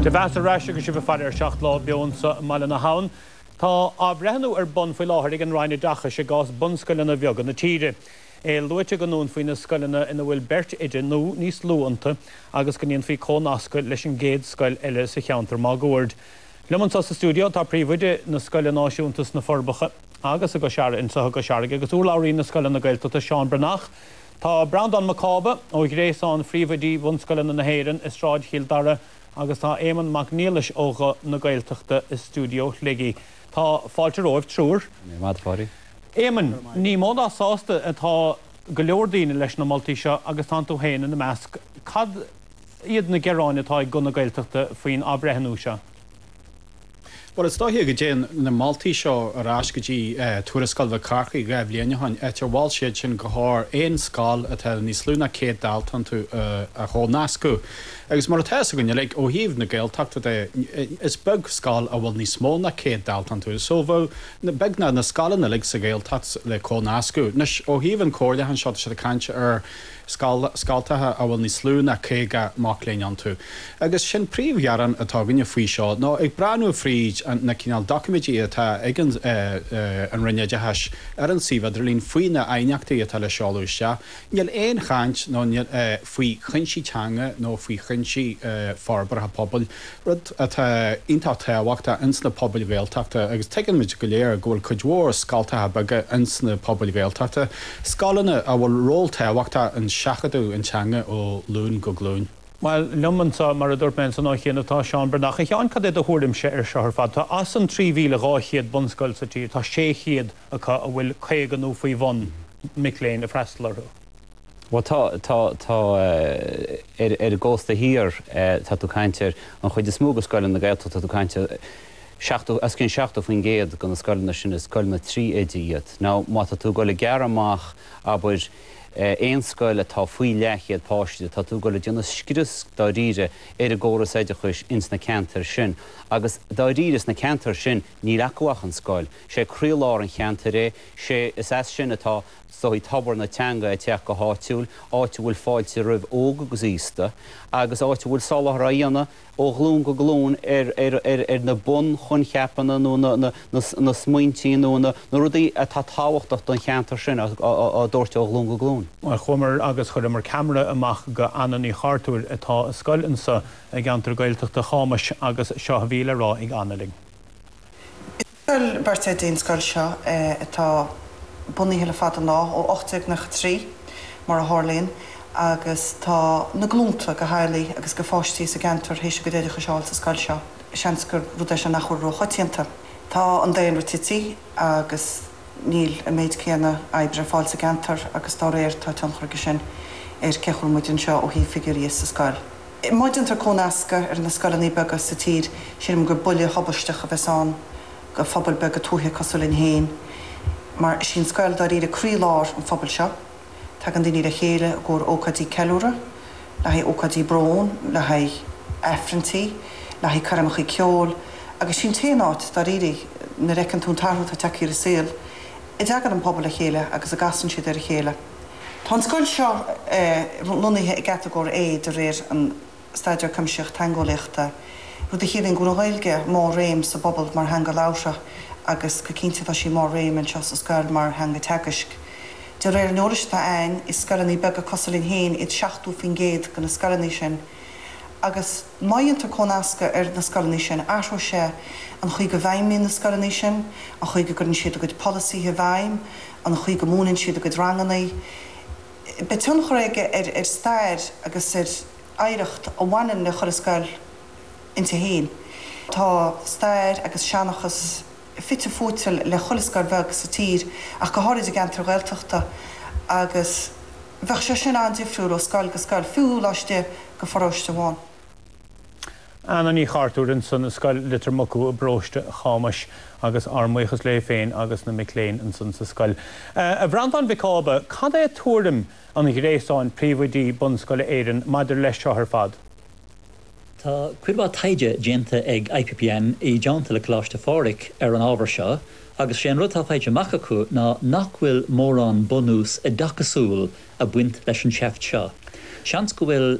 Dé bhur mbeatha ar ais agus sibh ag faire ar Seacht Lá beo anseo i mBaile na hAbhann. Tá athbhreithniú ar bun faoi láthair ag an Roinn Oideachais i gcás bunscoileanna bheaga na tíre. É luaite go ndúnfaí na scoileanna ina bhfuil beirt oide nó níos lú iontu agus go ndéanfaí comhnascadh leis an gcéad scoil eile sa cheantar máguaird. Liom anseo sa stiúideo tá príomhoide na scoile náisiúnta sna Forbacha agus i gCois Fharraige, anseo i gCois Fharraige, agus urlabhraí na scoileanna Gaeltachta, Seán Breathnach. Tá Breandán Mac Cába ó Ghréasán Phríomhoidí Bhunscoileanna na hÉireann i Sráid Chill Dara agus tá Éamonn Mac Niallais ó Ghuth na Gaeltachta i stiúideo Shligigh. Tá fáilte romhaibh triúr. Éamonn, ní mó ná sásta atá go leor daoine leis na moltaí seo agus tánn tú féin ina measc. Cad iad na gearáin atá ag Guth na Gaeltachta faoin athbhreithniú seo? Bhuel, is dóiche go dtéann na moltaí seo ar ais go dtí Tuarascáil Mhic Chárthaigh dhá bhliain ó shin, áit ar mhol siad sin gur chóir aon scoil atá níos lú ná 100 dalta iontu a chomhnascadh. Agus mar atá fhios againn uilig, ó thaobh na Gaeltachta de, is beag scoil a bhfuil níos mó ná 100 dalta iontu. So, bheadh beagnach na scoileanna uilig sa Ghaeltacht le comhnascadh. Anois, ó thaobh an chomhairliúcháin seo, tá siad ag caint ar, scoltacha a bhfuil níos lú ná caoga mac léinn iontu. Agus sé'n príomh-ghearán atá againne faoi seo nó ag breathnú fríd na cineál doiciméidí atá ag an Roinn Oideachais ar an suíomh idirlín faoi na aighneachtaí atá le seoladh isteach, níl aon chaint faoi chuinsí teanga nó faoi chuinsí forbartha pobail. Rud atá iontach tábhachtach ins na pobail Ghaeltachta, agus tuigimid go léir go bhfuil cuid mhór scoltacha beaga ins na pobail Ghaeltachta, scoileanna a bhfuil ról tábhachtach in seachadadh an teanga ó ghlúin go glúin. Bhuel, liom anso, mar a dúirt mé ansan ó chianaibh tá Seán Breathnach. A Sheáin, cad é do thuairimse ar seo ar fad? Tá as an 3,200 bunscoil sa tír, tá 600 acu a bhfuil 50 nó faoi bhun mic léinn ag freastal orthu. Bhuel tá, tá, tá eh, ar, ar an gcósta thiar eh, tá tú caint ar, an chuid is mó de scoileanna na Gaeltachta tá tú caint ar eh, 70, os cionn 70% de na scoileanna sin is scoileanna trí oide iad. Now má tá tú ag dul ag gearradh amach, abair, eh, aon scoil atá faoi leathchéad páiste, tá tú ag dul ag déanamh scrios dáiríre ar an gcóras oideachais ins na ceantair sin agus dáiríre sna ceantair sin níl acu ach an scoil, sé croílár an cheantair é, sé, is as sin atá, go háirithe tobar na teanga ag teacht go háitiúil, áit a bhfuil fáilte roimh óg agus aosta, agus áit a bhfuil soláthar á dhéanamh ó ghlúin go glúin ar na bunchoincheapanna nó na smaointí nó na rudaí atá tábhachtach don cheantar sin á dtabhairt ó ghlúin go glúin. Bhuel, chuamar agus chuireamar ceamara amach go Anna Ní Chartúir atá sa scoil anso i gceantar Gaeltachta Chámais agus seo a bhí le rá ag Anna linn. Scoil beirt oide í an scoil seo atá bunaithe le fada an lá, ó 1893 mar a tharlaíonn, agus tá na glúnta de theaghlaigh agus de pháistí sa gceantar théis a gcuid oideachais a fháil sa scoil seo. Seans gur rud é seo nach bhfuil ró-choitianta. Tá an daonra tití agus níl an méid céanna oibre ar fáil sa gceantar agus dá réir tá tionchar aige sin ar cá bhfuil muid anseo ó thaobh figiúirí sa scoil. Má déantar comhnascadh ar na scoileanna beaga sa tír, sílim gur buille tubaisteach a bheas ann do phobail beaga tuaithe cosúil linn féin. Mar is í an scoil dáiríre croí lár an phobail seo. Tagann daoine le chéile i gcomhair ócáidí ceiliúrtha, le haghaidh ócáidí bróin, le haghaidh aifrinntí, le haghaidh coirmeachaí ceoil. Agus sí an t-aon áit, dáiríre, nuair a fheiceann tú an t-athrú atá tagthaí ar an saol, a dteagann an pobal le chéile agus a gcasann siad ar a chéile. Tá an scoil seo lonnaithe i gCatagóir A de réir an Staidéar Cuimsitheach Teangeolaíochta, rud a chiallaíonn go bhfuil an Ghaeilge i mórréim sa bpobal mar theanga labhartha agus go cinnte tá sí i mórréim anseo sa scoil mar theanga teagaisc. De réir an eolais atá a'ainn, is scoileanna beaga cosúil linn féin iad 70% de na scoileanna sin agus má dhéantar comhnascadh ar na scoileanna sin, athróidh sé an chaoi go bhfeidhmíonn na scoileanna sin, an chaoi go gcuireann siad a gcuid polasaithe i bhfeidhm, an chaoi go múineann siad a gcuid ranganna. Beidh tionchar aige ar stair agus ar oidhreacht a bhaineann le chuile scoil inti féin. Tá stair agus seanchas fite fuaite le chuile scoil bheag sa tír ach go háirid i gceantair Ghaeltachta agus bheadh sé sin an-difriúil ó scoil go scoil, fiú laistigh de pharóiste amháin. Anna Ní Chartúir ansin as Scoil Litir Mucú i bParóiste Chámais agus ár mbuíochas léi féin agus na mic léinn ansin sa scoil. A Bhreandáin Mhic Cába, cad é tuairim an ghréasáin príomhoidí bunscoile Éireann maidir leis seo ar fad? Tá cuid mhaith taighde déanta ag IPPN i dteannta le Coláiste Phádraig ar an ábhar seo agus sé an rud atá faighte amach acu ná nach bhfuil mórán bunús oideachasúil a bhaint leis an tseift seo. Seans go bhfuil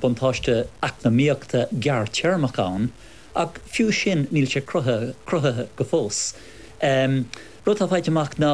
buntáiste eacnamaíochta gearrthéarmach ann, ach fiú sin níl sé cruthaithe go fós. An rud atá faighte amach ná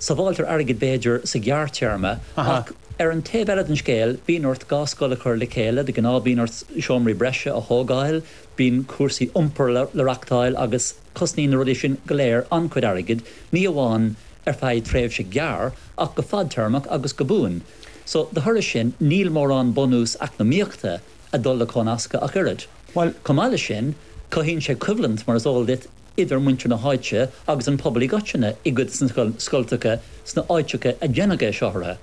sábháiltear airgead b'fhéidir sa ghearrthéarma, ach ar an taobh eile den scéal bíonn ort dhá scoil a chur le chéile, de ghnáth bíonn ort seomraí breise a thógáil, bíonn cúrsaí iompair le reachtáil agus. Cosnaíonn na rudaí sin go léir an-chuid airgid, ní amháin ar feadh tréimhse gearr ach go fadtéarmach agus go buan. So, de thoradh sin, níl mórán bunús eacnamaíochta ag dul le comhnascadh ach oiread. Bhuel, chomh maith leis sin, cothaíonn sé coimhlint, mar is eol duit, idir muintir na háite agus an pobal i gcoitinne i gcuid de na scoilteacha sna áiteacha a déanfar é a shocrú.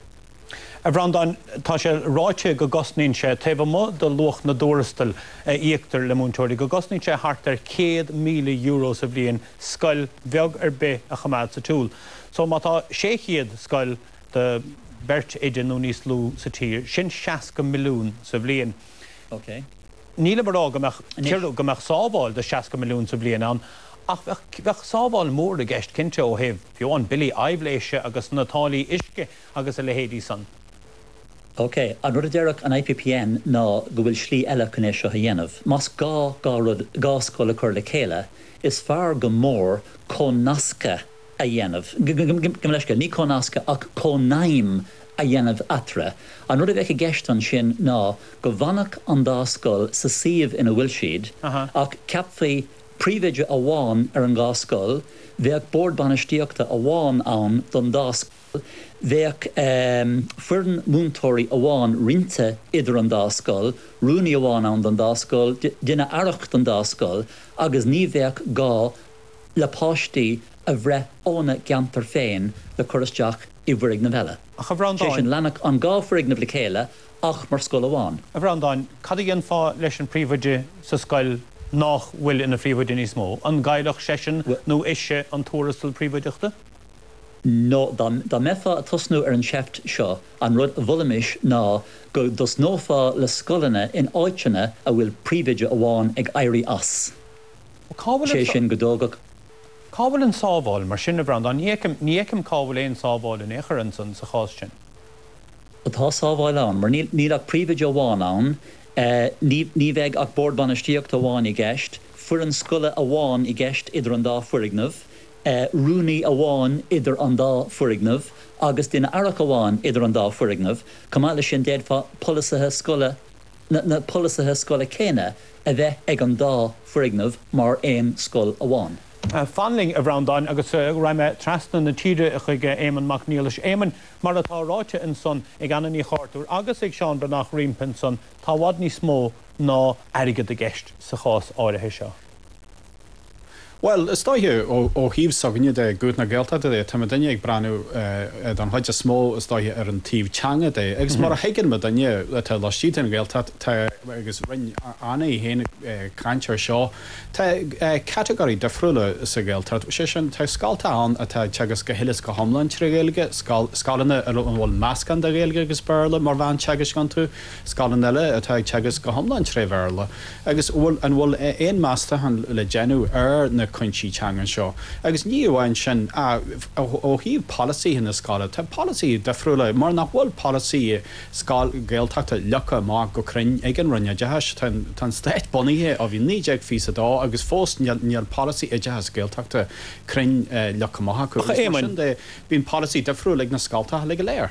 A Bhreandáin, tá sé ráite go gcosnaíonn sé, taobh amuigh de luach na dtuarastail a íoctar le múinteoirí, go gcosnaíonn sé thart ar €100,000 sa bhliain scoil bheag ar bith a choimeád sa tsiúl. So, má tá 600 scoil de bheirt oide nó níos lú sa tír, sin 60 milliún sa bhliain. Ok. Nílim a rá go mbeadh ciorrú, go mbeadh sábháil de 60 milliún sa bhliain ann, ach bheadh, bheadh sábháil mhór i gceist cinnte ó thaobh, fiú amháin, billí aibhléise agus na táillí uisce. agus a leithéidí san. OK, an rud a deireadh an IPPN ná go bhfuil slí eile chun é seo a dhéanamh. Más gá dhá rud, dhá scoil a chur le chéile, is fearr go mór comhnascadh a dhéanamh, gabh mo leithscéal, ní comhnascadh ach cónaidhm a dhéanamh eatarthu. An rud a bheadh i gceist ansin ná go bhfanfadh an dá scoil sa suíomh ina bhfuil siad ach ceapfaí príomhoide amháin ar an dhá scoil, bheadh bord bainistíochta amháin ann don dá scoil. bheadh foireann múinteoirí amháin roinnte idir an dá scoil, rúnaí amháin ann don dá scoil, duine aireach don dá scoil agus ní bheadh gá le páistí a bhreith óna gceantar féin le cur isteach i bhfoirgneamh eile. Ach a Bhreandáin. Sé sin, leanfadh an dhá foirgneamh le chéile ach mar scoil amháin. A Bhreandáin, cad a dhéanfá leis an príomhoide sa scoil nách bhfuil ina phríomhoide níos mó? An gcaillfeadh seisean nó ise an tuarastal príomhoideachta? No, dá mbeifeá a tosnú ar an seift seo, an rud a mholfaimis ná go dtosnófá le scoileanna in áiteanna a bhfuil príomhoide amháin ag éirí as. Sé sin go dtógfadh. Cá bhfuil an sábháil mar sin, a Bhreandáin? Ní fheicim, ní fheicim cá bhfuil aon sábháil in aon chor ansan, sa chás sin. Ó tá sábháil ann, mar níl, níl ach príomhoide amháin ann, ní, ní bheidh ach Bord Bainistíochta amháin i gceist, foireann scoile amháin i gceist idir an dá foirgneamh, rúnaí amháin idir an dá foirgneamh agus duine aireach amháin idir an dá foirgneamh, chomh maith leis sin d'fhéadfadh polasaithe scoile, na polasaithe scoile céanna a bheith ag an dá foirgneamh mar aon scoil amháin. Fan linn, a Bhreandáin, agus raghaidh mé trasna na tíre chuig Éamonn Mac Niallais. Éamonn, mar atá ráite ansan ag Anna Ní Chartúir agus ag Seán Breathnach roimpi ansan, tá i bhfad níos mó ná airgead i gceist sa chás áirithe seo. Bhuel, is dóiche, ó thaobh s'againne de, Guth na Gaeltachta de, tá muidinne ag breathnú, don chuid is mó, is dóiche, ar an taobh teanga de. Agus mar a thuigeann muidinne, atá laistigh den Ghaeltacht, tá, agus rinn Anna í féin caint ar seo, tá catagóirí difriúla sa Ghaeltacht, sé sin, tá scolta ann atá ag teagasc go huile is go hiomlán tré Ghaeilge, scoil, scoileanna a bhfuil meascán de Ghaeilge agus Béarla mar mheán teagaisc iontu. scoileanna eile atá ag teagasc go hiomlán tré Bhéarla agus an bhfuil aon mheastachán le déanamh ar na cúinsí teangan seo agus ní amháin sin ach ó thaobh polasaithe na scoile tá polasaithe difriúla mar nach bhfuil polasaí scoil Gaeltachta leagtha amach go cruinn ag an Roinn Oideachais. Tá an Stát bunaithe ó bhí naoi déag fiche a dó agus fós níl polasaí oideachais Gaeltachta cruinn leagtha amach acu agus mar sin de bíonn polasaí difriúil ag na scoltacha go léir.